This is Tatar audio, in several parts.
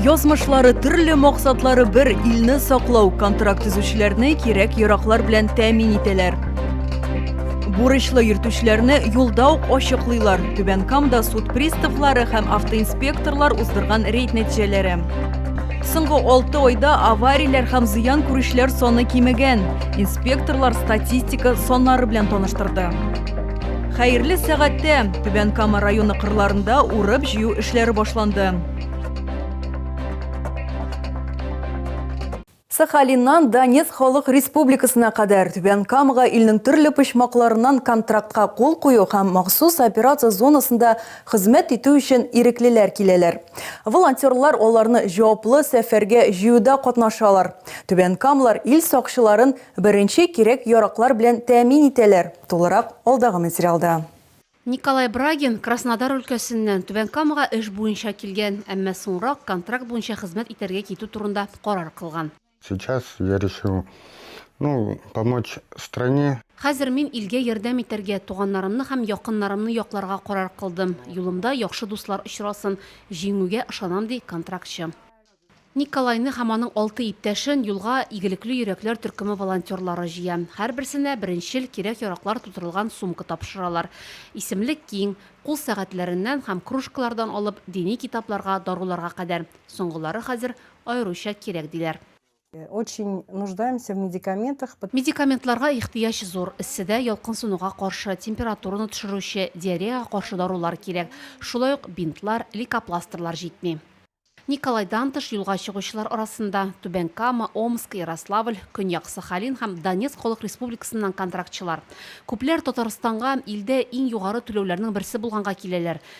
Язмышлары төрле максатлары бер илне саклау контракт төзүчеләрне кирәк яраклар белән тәэмин итәләр. Бурычлы йөртүчеләрне юлда ук ачыклыйлар. Түбән Камда суд приставлары һәм автоинспекторлар уздырган рейд нәтиҗәләре. Соңгы алты айда аварияләр һәм зыян күрүчеләр саны кимегән. Инспекторлар статистика саннары белән таныштырды. Хәерле сәгатьтә Түбән Кама районы кырларында урып җыю эшләре башланды. Сахалиннан Донец халык республикасына кадәр Түбән Камага илнең төрле почмакларыннан контрактка кул кую һәм махсус операция зонасында Хезмәт итү өчен иреклеләр киләләр. Волонтерлар аларны җаваплы сәфәргә җыюда катнашалар. Түбән Камлар ил сакчыларын беренче кирәк-яраклар белән тәэмин итәләр, тулырак алдагы материалда. Николай Брагин Краснодар өлкәсеннән Түбән Камага эш буенча килгән, әмма соңрак контракт буенча хезмәт итәргә китү турында карар кылган. Сейчас я решил, ну, помочь стране. Хәзер мин илгә ярдәм итәргә, туганнарымны һәм якыннарымны якларга карар кылдым. Юлымда яхшы дуслар очрасын, җиңүгә ышанам, ди контрактчы. Николайны һәм аның алты иптәшен юлга игелекле йөрәкләр төркеме волонтерлары җыя. Һәрберсенә беренчел кирәк-яраклар тутырылган сумка тапшыралар. Исемлек киң, кул сәгатьләреннән һәм кружкалардан алып дини китапларга, даруларга кадәр. Соңгылары хәзер аеруча кирәк, диләр. Очень нуждаемся в медикаментах. Медикаментларга ихтыяҗ зур. Эсседә ялкынсынуга каршы, температураны төшерүче, диареяга каршы дарулар кирәк. Шулай ук бинтлар, лейкопластырьлар җитми. Николайдан тыш юлга чыгучылар арасында, Түбән Кама, Омск, Ярославль, Көньяк Сахалин һәм Донецк халык республикасыннан контрактчылар. Күпләр Татарстанга илдә иң югары түләүләрнең берсе булганга киләләр.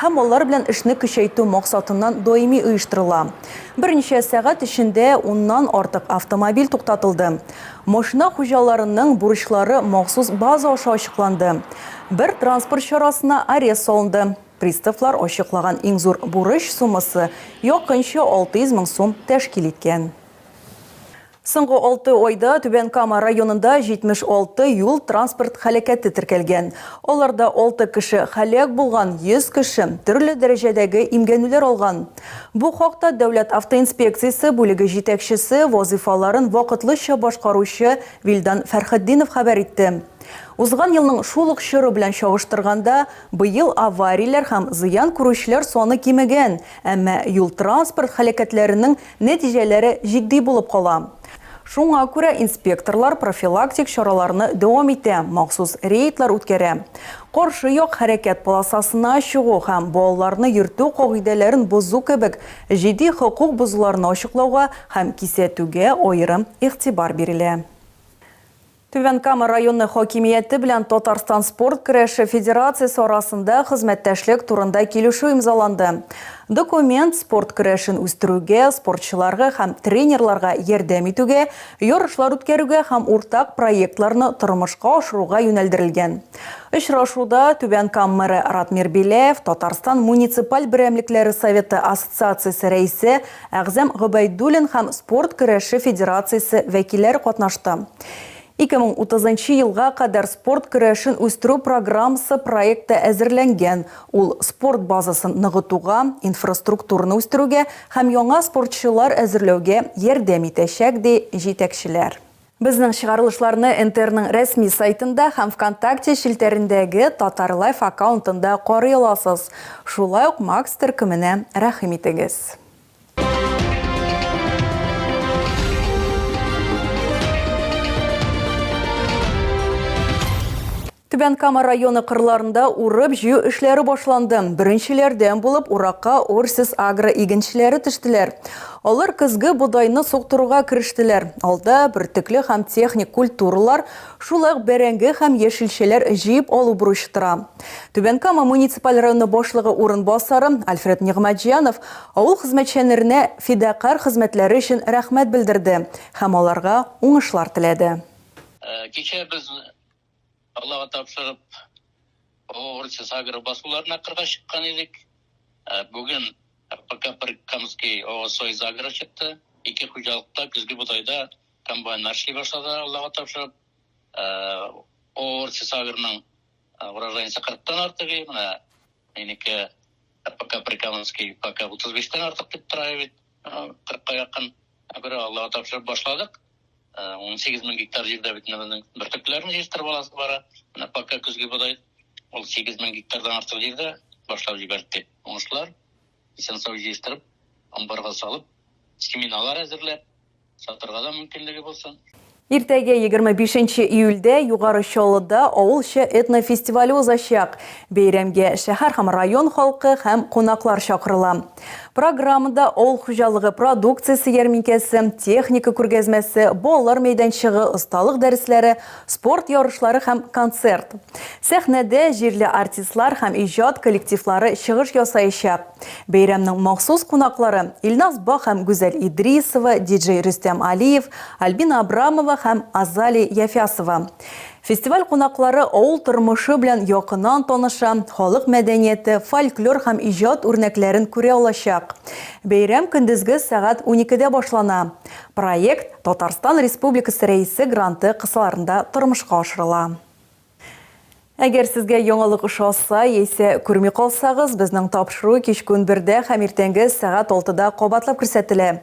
һәм алар белән эшне көчәйтү максатыннан даими оештырыла. Берничә сәгать эчендә уннан артык автомобиль туктатылды. Машина хуҗаларының бурычлары махсус база аша ачыкланды. Бер транспорт чарасына арест салынды. Приставлар ачыклаган иң зур бурыч суммасы якынча 600 мең сум тәшкил иткән. Соңгы алты айда Түбән Кама районында 76 юл-транспорт һәлакәте теркәлгән. Аларда алты кеше һәлак булган, 100 кеше төрле дәрәҗәдәге имгәнүләр алган. Бу хакта Дәүләт автоинспекциясе бүлеге җитәкчесе вазыйфаларын вакытлыча башкаручы Вилдан Фәрхетдинов хәбәр итте. Узган елның шул ук чоры белән чагыштырганда, быел аварияләр һәм зыян күрүчеләр саны кимегән, әмма юл-транспорт һәлакәтләренең Нәтиҗәләре җитди булып кала. Шуңа күрә инспекторлар профилактик чараларны дәвам итә, махсус рейдлар үткәрә. Каршы як хәрәкәт полосасына чыгу һәм балаларны йөртү кагыйдәләрен бозу кебек җитди хокук бозуларны ачыклауга һәм кисәтүгә аерым игътибар бирелә. Түбән Кама районы хакимияте белән Татарстан спорт көрәше федерациясе арасында хезмәттәшлек турында килешү имзаланды. Документ спорт көрәшен үстерүгә, спортчыларга һәм тренерларга ярдәм итүгә, ярышлар үткәрүгә һәм уртак проектларны тормышка ашыруга юнәлдерелгән. Очрашуда Түбән Кам мэры Ратмир Беляев, Татарстан муниципаль берәмлекләре советы ассоциациясе рәисе Әгъзам Гобәйдуллин һәм спорт көрәше федерациясе вәкилләре катнашты. 2030 нчы елга кадәр спорт көрәшен үстерү программасы проекты әзерләнгән, ул спорт базасын ныгытуга, инфраструктураны үстерүгә һәм яңа спортчылар әзерләүгә ярдәм итәчәк, ди җитәкчеләр. Безнең чыгарылышларны НТРның рәсми сайтында һәм Вконтакте челтәрендәге Татарлайф аккаунтында карый аласыз. Шулай ук Макс төркеменә рәхим итегез. Түбән Кама районы кырларында урып-җыю эшләре башланды. Беренчеләрдән булып уракка Орсис-Агро игенчеләре төштеләр. Алар көзге бодайны суктыруга керештеләр. Алда, бөртекле һәм техник культуралар, шул ук бәрәңге һәм яшелчәләр җыеп алу бурычы тора. Түбән Кама муниципаль районы башлыгы урынбасары Альфред Нигъмәтҗанов авыл хезмәтчәнеренә фидакарь хезмәтләре өчен рәхмәт белдерде һәм аларга уңышлар теләде. Кичә без Аллага тапшырып, Огурцы Сагры басуларына кырга чыккан идек. Ә бүген ПК Прикамский Огосой Загры чыкты. Ике хуҗалыкта көзге бодайда комбайннар эшли башлады, Аллага тапшырып. Ә Огурцы Сагрның урожайница кырыктан артык иде, менә минеке ПК Прикамский пока утыз биштән артык дип тора бит. Кырыкка якын, ә бер Аллага тапшырып башладык. 18 мең гектар җирдә бит безнең бөртекләрне җыештырып аласы бара. Менә пока көзге бодай ул 8 мең гектардан артык җирдә башлап җибәрде. Уңышлар исән сау җыештырып, амбарга салып, семиналар әзерләп, сатырга да мөмкинлеге булсын. Иртәгә 25 июльдә Югары Чаллыда авылча этнофестивале узачак. Бәйрәмгә шәһәр һәм район халкы һәм кунаклар чакырыла. Программада авыл хуҗалыгы продукциясе ярминкәсе, техника күргәзмәсе, балалар мәйданчыгы, осталык дәресләре, спорт ярышлары һәм концерт. Сәхнәдә җирле артистлар һәм иҗат коллективлары чыгыш ясаячак. Бәйрәмнең махсус кунаклары Илназ Бах һәм Гүзәл Идрисова, диджей Рөстәм Алиев, Альбина Абрамова һәм Азали Яфясова. Фестиваль кунаклары авыл тормышы белән якыннан таныша, халык мәдәнияте, фольклор һәм иҗат үрнәкләрен күрә алачак. Бәйрәм көндезге сәгать уникедә башлана. Проект Татарстан Республикасы Рәисе гранты кысаларында тормышка ашырыла. Әгәр сезгә яңалык ошаса яисә күрми калсагыз, безнең тапшыру кичке унбердә һәм иртәнге сәгать алтыда кабатлап күрсәтелә.